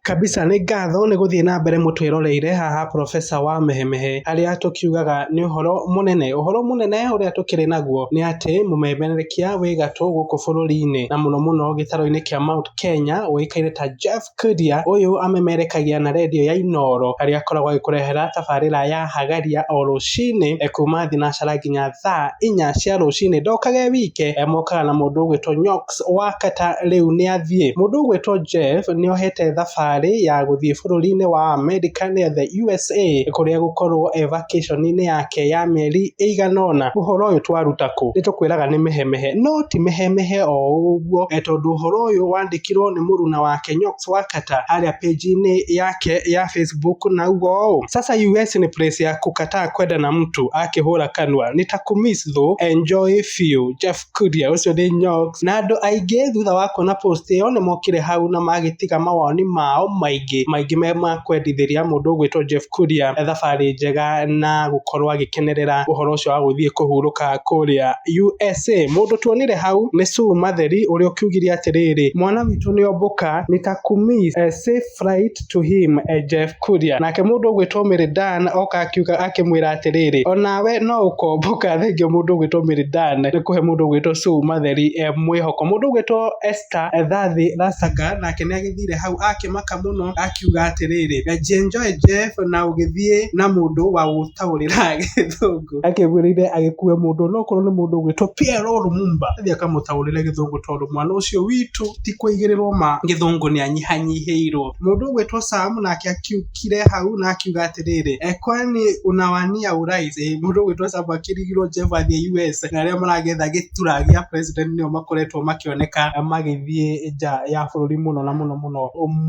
Kabisa nĩ ngatho nĩ gũthiĩ na mbere mũtwĩroreire haha professor wa mehemehe arĩa tũkiugaga nĩ ũhoro mũnene. Ũhoro mũnene ũrĩa tũkĩrĩ naguo nĩ atĩ mũmemerekia wĩ gatũ gũkũ bũrũri-inĩ na mũno mũno gĩtarũ-inĩ kĩa Mount Kenya ũĩkaine ta Jeff Koinange. Ũyũ amemerekagia na redio ya Inooro harĩa akoragwo agĩkũrehera tabarĩra ya Hagaria o rũcinĩ kuma thinacara nginya thaa inya cia rũcinĩ. Ndokage wike, mokaga na mũndũ ũgwĩtwo Nyoka. Wakata rĩu nĩathiĩ. Mũndũ ũgwĩtwo Jeff nĩohete thabarĩ ya gũthiĩ bũrũri-inĩ wa Amerika nĩa the USA kũrĩa gũkorwo e vacation inĩ yake ya mĩeri ĩigana ũna. Ũhoro ũyũ twaruta kũ? Nĩtũkwĩraga nĩ Mehemehe. No ti Mehemehe o ũguo tondũ ũhoro ũyũ wandĩkirwo nĩ mũruna wake Nyox Wakata harĩa page inĩ yake ya Facebook na auga ũũ, Sasa US ni place ya kukataa kwenda na mtu akĩhũra kanua. Nitakũmiss though. Enjoy fiũ. Jeff. Kuria ũcio nĩ nyox. Na andũ aingĩ thutha wa kuona post ĩyo nĩ mokire hau na magĩtiga mawoni mao maingĩ maingĩ me ma kwendithĩria mũndũ ũgwĩtwo Jeff Kuria thabarĩ njega na gũkorwo agĩkenerera ũhoro ũcio wa gũthiĩ kũhurũka kũrĩa USA. Mũndũ tuonire hau nĩ Sue Matheri ũrĩa ũkiugire atĩrĩrĩ, mwana witũ nĩ ombũka, nitakumiss a safe flight. to him a Jeff Kuria. Nake mũndũ ũgwĩtwo Mary Dan oka akiuga akĩmwĩra atĩrĩrĩ, onawe no ũkomboka thengio mũndũ ũgwĩtwo Mary Dan nĩ kũhe mũndũ ũgwĩtwo Sue Matheri e mwĩhoko. Mũndũ ũgwĩtwo Esther Thathi Rasaga nake nĩ agĩthire hau akĩmaka mũno akiuga atĩrĩrĩ, enjoy Jeff na ũgĩthiĩ na mũndũ wa gũtaũrĩra gĩthũngũ. Akĩgwĩrĩire agĩkue mũndũ onokorwo nĩ mũndũ ũgwĩtwo Pierre Lumumba athiĩ akamũtaũrĩre gĩthũngũ tondũ mwana ũcio witũ ti kũigĩrĩrwo ma. Gĩthũngũ nĩanyihanyihĩirwo. Mũndũ ũgwĩtwo Sam nake akiũkire hau na akiuga atĩrĩrĩ, E kwani unawania urais? Ĩ mũndũ ũgwĩtwo Sam akĩrigirwo Jeff athiĩ US na arĩa maragetha gĩtura gĩa president nĩo makoretwo makĩoneka magĩthiĩ nja ya bũrũri mũno na mũno mũno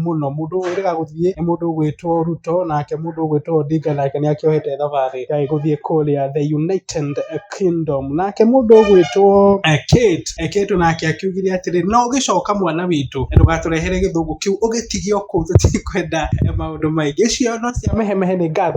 mũno. Mũndũ ũrega gũthiĩ nĩ mũndũ ũgwĩtwo Ruto nake mũndũ ũgwĩtwo Odinga nake nĩakĩohete thabarĩ gũthiĩ kũrĩa the United kingdom nake mũndũ ũgwĩtwo eh, Kate eh, Kate nake akiugire atĩrĩ no ũgĩcoka mwana witũ eh, ndũgatũrehere gĩthũngũ kĩu ũgĩtige okũu tũtikwenda eh, maũndũ maingĩ icio no cia mehemehe nĩ ngatho